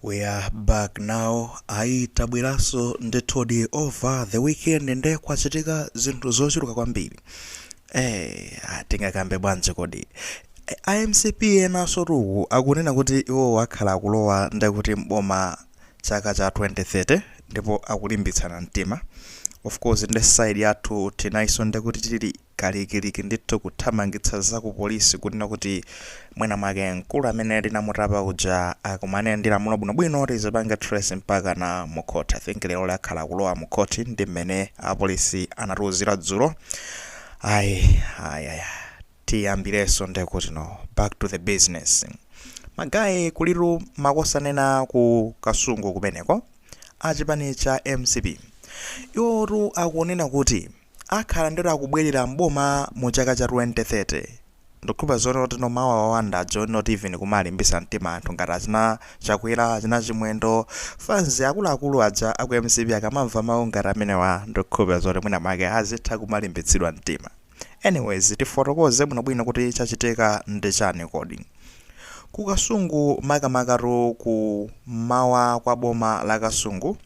We are back now ayi tabweraso ndithudi over the weekend nde kwachitika zinthu zochuluka kwambiri eh atingakambe bwanji kodi Eh, a mcp enaso tu akunena kuti iwo akhala akulowa ndekuti mboma chaka cha 2030 ndipo akulimbitsana mtima of course nde side yathu tinaiso ndekuti tili kalikiliki ndithu kuthamangitsa za ku polisi kunena kuti mwina mwake mkulu amene linamutapa uja akumane ndi lamulo bwinobwino tilipange trace mpakana mu court i think lero akhala akulowa mu court ndi mmene apolisi anatiuzira dzulo ayi ayi ayi tiyambireso ndekuti no back to the business magaye kulitu makosana ku kasungu kumeneko achipani cha mcp iwotu akunena kuti akhala ndithu akubwelera m'boma mu chaka cha 2030 ndikhulupa zonena kuti no mawa wawanda ajawo not even kumalimbisa mtima anthu ngati achina chakwela achina chimwendo fans akuluakulu aja aku mcp akamamva mau ngati amenewa ndikukhulupila zoti mwina mwake azitha kumalimbitsidwa mtima anyways tifotokoze bwinobwino kuti chachitika ndi chani kodi ku kasungu makamakatu ku mawa kwa boma la kasungu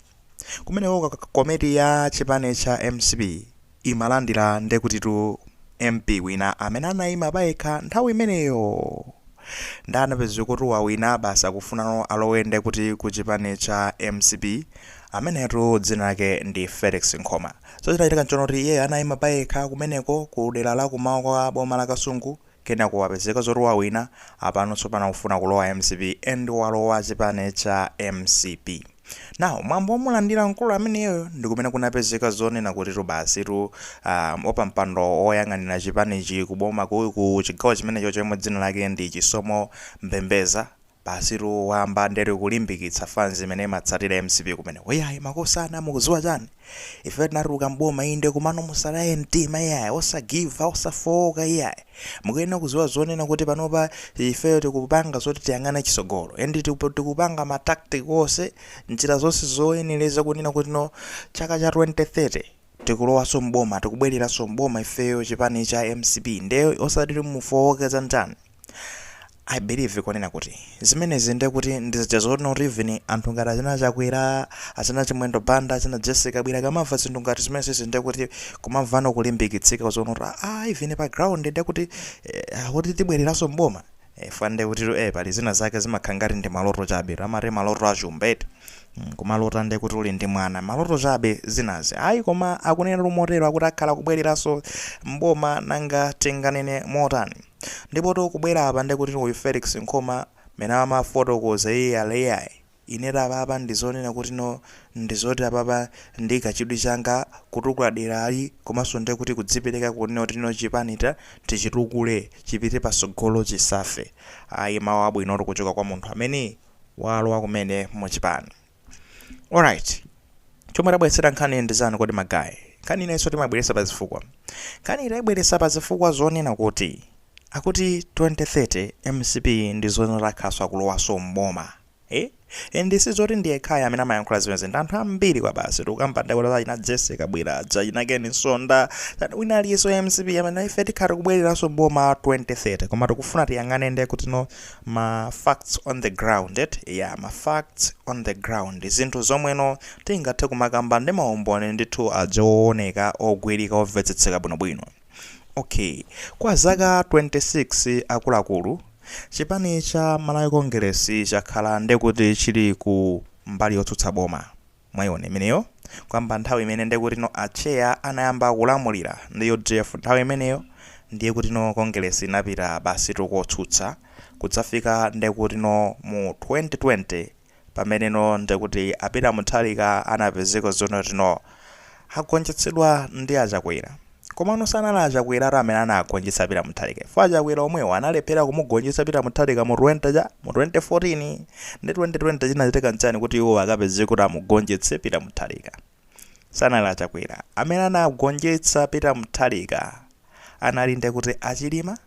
Kumeneko komiti ya chipani cha mcp imalandira ndekutitu MP wina amene anaima payekha nthawi imeneyo nde anapezekatu wawina basi akufunano alowe ndekuti ku chipani cha mcp amenetu dzina lake ndi Felix Nkhoma so chinachitika nchonena kuti iyeyo anaima payekha kumeneko ku dera la kumawa kwa boma la Kasungu kenako wapezeka zoti wawina apano tsopano akufuna kulowa mcp and walowa chipani cha mcp now mwambo womulandira mkulu ameneyo ndikumene kunapezeka zonena kutitu basitu um, wapampando woyang'anira chipanichi kuboma ku ku chigawo chimenecho yemwe dzina lake ndi chisomo mbembeza Basitu wayamba ndekuti kulimbikitsa fans imene imatsatira mcp kumeneko iyayi makosana mukuziwa chani ifeyo tinatuluka m'boma inde komano musataye mtima iyayi osagiva osafowoka iyayi mukuyenera kuziwa zonena kuti panopa ifeyo tikupanga zoti tiyang'ane chisogolo and tikupanga ma tactic ose njira zonse zoyeneleza kunena kuti no chaka cha 2030 Tikulowaso m'boma tikubweleraso m'boma ifeyo chipani cha mcp nde osati kuti mufowoke za ndani I believe kunena kuti zimenezi nde kuti ndi zija zoti not even anthu ngati achina chakwera, achina chimwendo banda, achina Jessie Kabwila akamava zinthu ngati zimenezi nde kuti kumavano kulimbikitsika zonena kuti aah even pa ground nde kuti akuti tibweleraso m'boma. Eh, fwa nde kutitu eh, pali zina zake zimakhala ngati ndi maloto chabe tu amati maloto achumba eti Mm, kumalota nde kuti uli ndi mwana maloto chabe zinazi ayi koma akunena tu motero akuti akhala akubwereranso mboma nanga tinganene motani ndipo tu kubwera apa nde kuti uyu Felix Nkhoma amene amafotokoza iye ali iyayi Inetu apapa ndizonena kuti no ndizoti apapa ndi kachidwi changa kutukula derali komanso nde kuti kudzipereka kunena kuti no chipani ta tichitukule chipite pasogolo chisafe ayi mawu abwinotu kuchoka kwa munthu amene walowa kumene mu chipani alright chomwe tabweretsera nkhaniyi ndi chani kodi ma guy nkhani ina iliyonse timayibweretsa pa zifukwa nkhaniyi tayibweretsa pa zifukwa zonena kuti akuti 2030 mcp ndi zonena akhalanso akulowanso m'boma Eh? And sizoti ndi yekhayo amene amayankhula zimenezi ndi anthu ambiri kwabasi tikukamba nde kuti achina Jessie Kabwila achina Ken Msonda wina aliyense wa MCP amanena ife tikhala tikubwereranso mboma 2030 koma tikufuna tiyang'ane nde kuti no ma facts on the ground eti yeah ma facts on the ground zinthu zomwe no tingathe kumakamba ndi maumboni ndithu aja ooneka ogwirika omvetsetseka bwinobwino Ok kwa zaka 26 akuluakulu chipani cha Malawi Congress chakhala ndekuti chili ku mbali yotsutsa boma mwaiona imeneyo kuyamba nthawi imene ndekutino Atcheya anayamba kulamulira ndi udf nthawi imeneyo ndiye kutino Congress inapita basitu kotsutsa kudzafika ndekutino mu 2020 Pameneno nde kuti a Peter Mutharika anapezeka zonena kuti no agonjetsedwa ndi a Chakwera. Komano sanali a Chakweratu amene anagonjetsa a Peter Mutharika chifukwa a Chakwera omwewo analephera kumugonjetsa Peter Mutharika mu 20 cha? mu 2014. Nde 2020 chinachitika nchani kuti iwowo akapezeke kuti amugonjetse Peter Mutharika? sanali achakwera amene anagonjetsa Peter Mutharika anali nde kuti achilima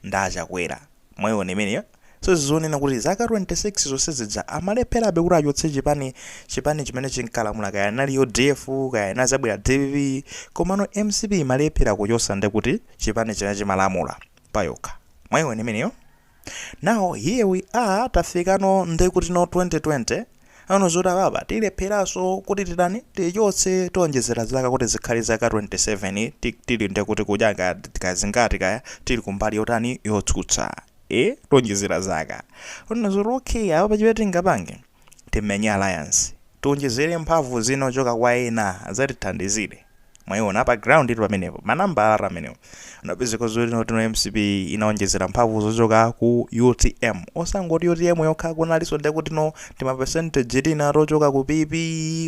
ndi achakwera mwaiona imeneyo so ndizonena kuti zaka 26 zonse zija amalepherabe kuti achotse chipani chipani chimene chinkalamula kaya anali udf kaya inazabwera dpp komano mcp imalephera kuchosa nde kuti chipani chimene chimalamula payokha mwaiona imeneyo Now here we are tafikano ndekutino 2020 anaona zoti apapa tilepheraso kuti titani tichotse tionjezera zaka kuti zikhale zaka 27 ti- tili ndekuti kudya ka- kazingati kaya tili kumbali yotani yotsutsa e tionjezera zaka anaona zoti okay apapa chimene tingapange timenye alliance tionjezere mphamvu zina zochoka kwa ena azatithandizire mwayiona pa ground tu pamenepo manambalatu amenewo unapezeka zoti notino mcp inaonjezera mphamvu zochoka ku utm osangoti utm yokha kunalinso ndekutino tima percentage tina tochoka ku pp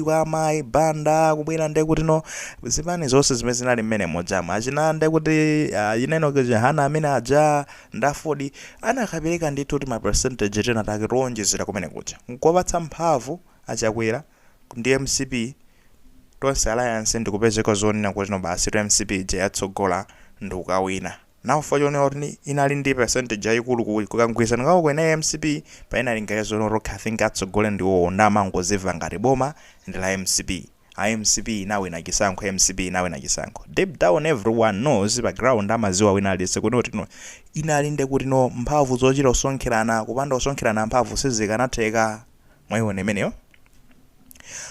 kwa amayi banda kubwera ndekutino zipani zonse zimene zinali mmene muja achina ndekuti uh, Enoch Chihana amene aja Nde Aford anakapeleka ndithu tima percentage tina take towonjezera kumene kuja nkuwapatsa mphamvu a chakwera ndi mcp, tonse alliance ndikupezeka zonena kuti no basitu mcp ija yatsogola ndikawina. Now chifukwa chonena kuti inali ndi percentage yayikulu ku kamgwilizano kawo kenako mcp payinalingalira zonena kuti okay i think atsogole ndiwo nde amangoziwa ngati boma ndi la mcp. mcp inawina chisankho mcp inawina chisankho deep down everyone knows pa ground amaziwa wina aliyese kuti kuti no inali nde kuti no mphamvu zochita kusonkhelana kupanda kusonkhelana mphamvu sizikanatheka mwayiwona imeneyo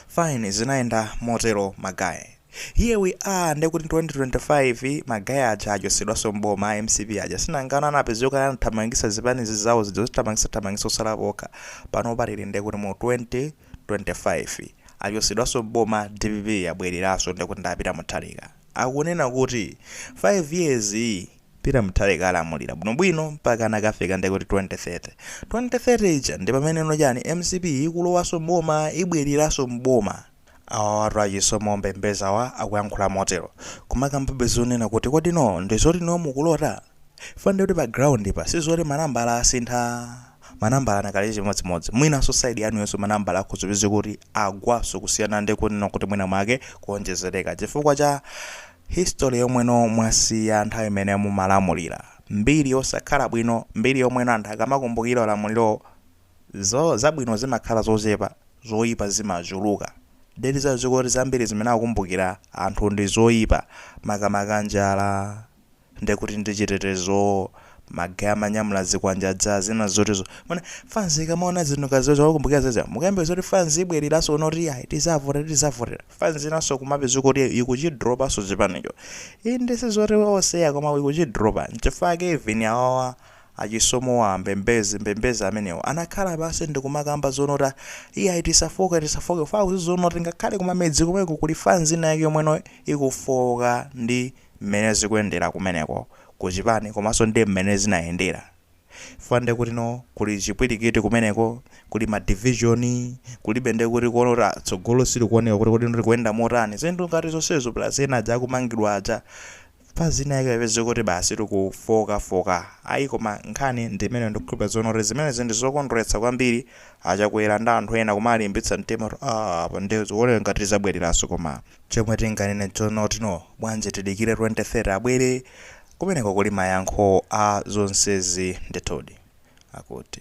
fine zinayenda motelo ma guy here we are nde kuti 2025 ma guy aja achosedwaso m'boma a mcp aja sinangano anapezeka anathamangisa zipani zizawo zija zithamangisa thamangisa osalapo okha, panopa tili nde kuti mu 20 25 achosedwaso m'boma dpp yabweleraso ndekuti ndi a peter muthalika akunena kuti 5 years yi peter muthalika alamulira bwinobwino mpakana akafika ndekuti 2030 2030 ija ndipameneno chani mcp ikulowaso m'boma ibweleraso m'boma awawatu a chisomo mbembeziwa akuyankhula motero koma kukambabe zonena kuti kodi no ndizoti no mukulota chifukwa ndekuti pa ground pa sizoti manambala asintha manambala akanali chimodzimodzi mwinanso side yanuyonso manambala akhoza kupezeka kuti agwanso kusiyana ndi kunena kuti mwina mwake kuonjezereka chifukwa cha history yomweno mwasiya nthawi imene mumalamulira mbiri yosakhala bwino mbiri yomweno anthu akamakumbukira ulamuliro zabwino zimakhala zochepa zoipa zimachuluka ndiye tiziziwa kuti zambiri zimene akukumbukira anthu ndi zoipa makamaka njala nde kuti ndi chitetezo ma guy amanyamula zikwanje aja zina zoti zo mwina fanz ikamaona zinthu ngati zoti akumakumbukira za zija mukayambira zoti fanz ibweleraso kuno kuti iyayi tizavotera tizavotera fanz inaso kumapeza kuti ikuchidropaso chipanicho inde sizoti oseya koma ikuchidropa nchifukwa chake even awawa achisomowa mbembezi mbembezi amenewo anakhala pasi ndikumakamba zonoti iyayi tisafoke tisafoke fa kuziziona kuti ngakhale kumamidzi komweko kuli fanz ina yake yomweno ikufooka ndi mmene zikuyendera kumeneko ku chipani komanso ndi mmene zinayendera chifukwa ndiye kuti no kuli chipwirikiti kumeneko, kuli ma division, kulibe ndiye kuti kuona kuti ah, tsogolo silikuoneka kuti kodi likuyenda motani, zinthu ngati zonsezo plus ena aja akumangidwa aja fanz ina yake kupezeka kuti basi tikufoka foka ayi koma nkhani ndi imene ndikukhulupirira zonena kuti zimenezi ndi zokondweretsa kwambiri achakwera ndi anthu ena kumalimbitsa mtima kuti ah, apa ndiye zikuoneka ngati tizabwereranso koma Chomwe tinganene chonoti no bwanji tidikire 2030 abwere kumeneko kuli mayankho a zonsezi ndithudi. Akuti.